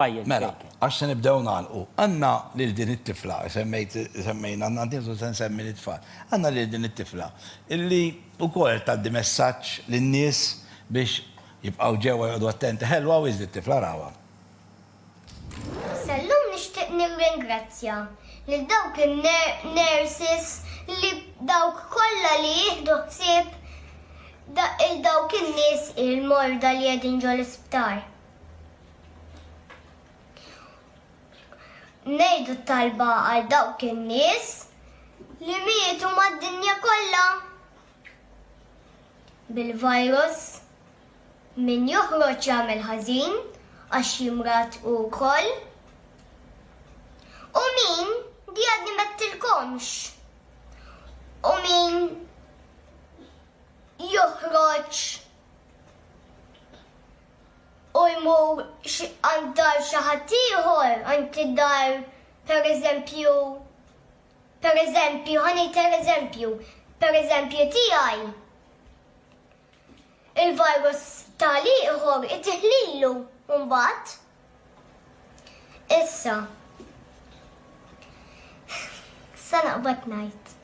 Pajjiż Mela, Baker. għax se nibdew nagħlqu. Għandna lil din it-tifla, semmejt, semmejna, għandna nieħdu se nsemmi lit-tfal. Għandna lil din it-tifla illi wkoll qed tgħaddi messaġġ lin-nies biex jibqgħu ġewwa joqogħdu attenti. Ħelwa wisq dit-tifla, arawha. Issa llum nixtieq nirringrazzja lil dawk in-nurses li dawk kollha li jieħdu ħsieb il dawk in-nies il-morda li qegħdin ġol-isptar. Nejdu talba għal dawk in-nies li mietu mad-dinja kollha bil-virus min joħroġ jagħmel ħażin għax jimrat u koll. U min di għadni mettilkomx. U min joħroġ u jmur għand dar xi ħadd ieħor, għand id-dar pereżempju, pereżempju, ħa ngħid ereżempju, pereżempju tiegħi, il-virus ta' l-ieħor itih lilu mbagħad. Issa, sa naqbad ngħid.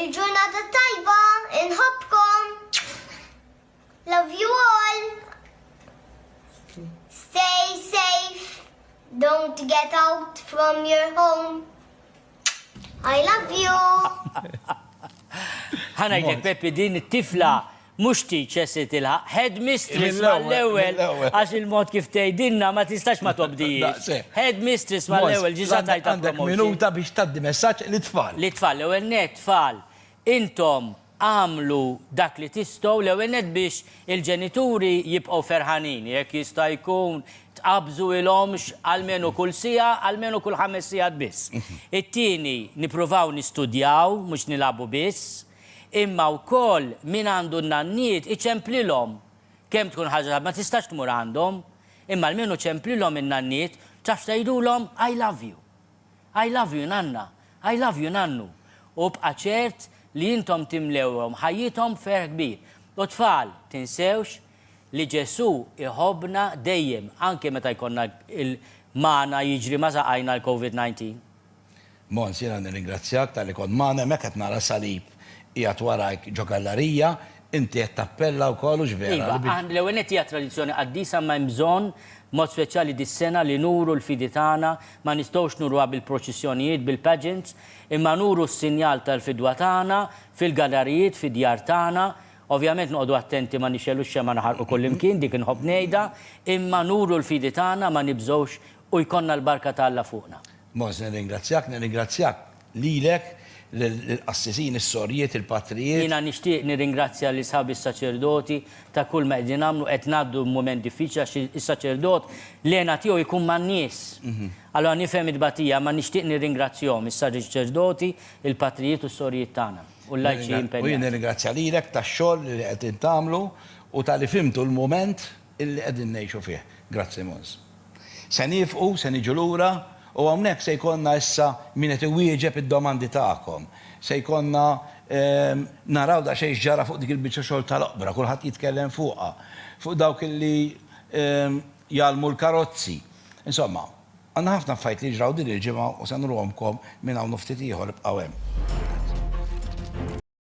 Il-ġurnata tajba, inħobbkom! Love you all. Stay safe. Don't get out from your home. I love you. Ħanajlek Peppi din it-tifla mux tiċe se tilħaq headmistress mal-ewel, għax il-mod kif tejdinna ma tistax ma tobdijiex. Headmistress mal-ewel, ġiza tajta promotion. Minuta biex taddi messaċ li tfal. Li tfal, l-ewel net tfal, intom Agħmlu dak li tistgħu l-ewwel nett biex il-ġenituri jibqgħu ferħanin. Jekk jista' jkun, tqabżuilhomx almenu kull siegħa, almenu kull ħames sigħat biss. It-tieni, nippruvaw nistudjaw, mhux nilagħbu biss. Imma wkoll min għandu n-nanniet, iċemplilhom. Kemm tkun ħaġa ta' ma tistax tmur għandhom, imma almenu ċemplilhom in-nanniet, tafx tgħidulhom, I love you. I love you nanna, I love you nannu, u bqa' ċert li intom timlewhom ħajjithom b'ferħ kbir. U tfal, tinsewx li Ġesù jħobbna dejjem, anke meta jkollna il magħna jiġri ma' saqajna l-Covid 19. Mons, jiena nirringrazzjak talli kont magħna hemmhekk qed nara s-salib qiegħed warajk ġo gallarija, Inti qed tappella wkoll, hux vera? Iva, l-ewwel nett hija tradizzjoni qaddisa imma hemm bżonn, b'mod speċjali dis-sena, li nuru l-fidi tagħna, ma nistgħux nuruha bil-proċissjonijiet, bil-pageants, imma nuru s-sinjal tal-fidwa tagħna fil-gallarijiet, fid-djar tagħna, ovvjament noqogħdu attenti ma nixegħlux xemgħa naħarqu kullimkien, dik inħobb ngħidha, imma nuru l-fidi tagħna, ma nibżgħux u jkollna l-barka ta' Alla fuqna. Mons, nirringrazzjak, nirringrazzjak. Lilek, lill-qassisin, is-sorjiet, il-patrijiet. Jiena nixtieq nirringrazzja lil sħabi s-saċerdoti ta' kull ma qegħdin nagħmlu, qed ngħaddu mument diffiċli għax is-saċerdot l-hena tiegħu jkun man-nies. Allura nifhem it-tbatija imma nixtieq nirringrazzjahom, is-saċerdoti, il-patrijiet u s-sorjiet tagħna, u l-lajċi impenjati. U jien nirringrazzja lilek tax-xogħol li qegħdin tagħmlu u talli fhimtu l-mument. li qegħdin ngħixu fih. Grazzi Mons. Se niefqu, se niġu lura u hawnhekk se jkollna issa min qed iwieġeb id-domandi tagħkom. Se jkollna naraw daqsxejn x'ġara fuq dik il-biċċa xogħol tal-oqbra, kulħadd jitkellem fuqha, fuq dawk illi jgħallmu l-karozzi. Insomma, għandna ħafna affarijiet li jiġraw din il-ġimgħa u se nruhomkom minn hawn u ftit ieħor, ibqgħu hemm.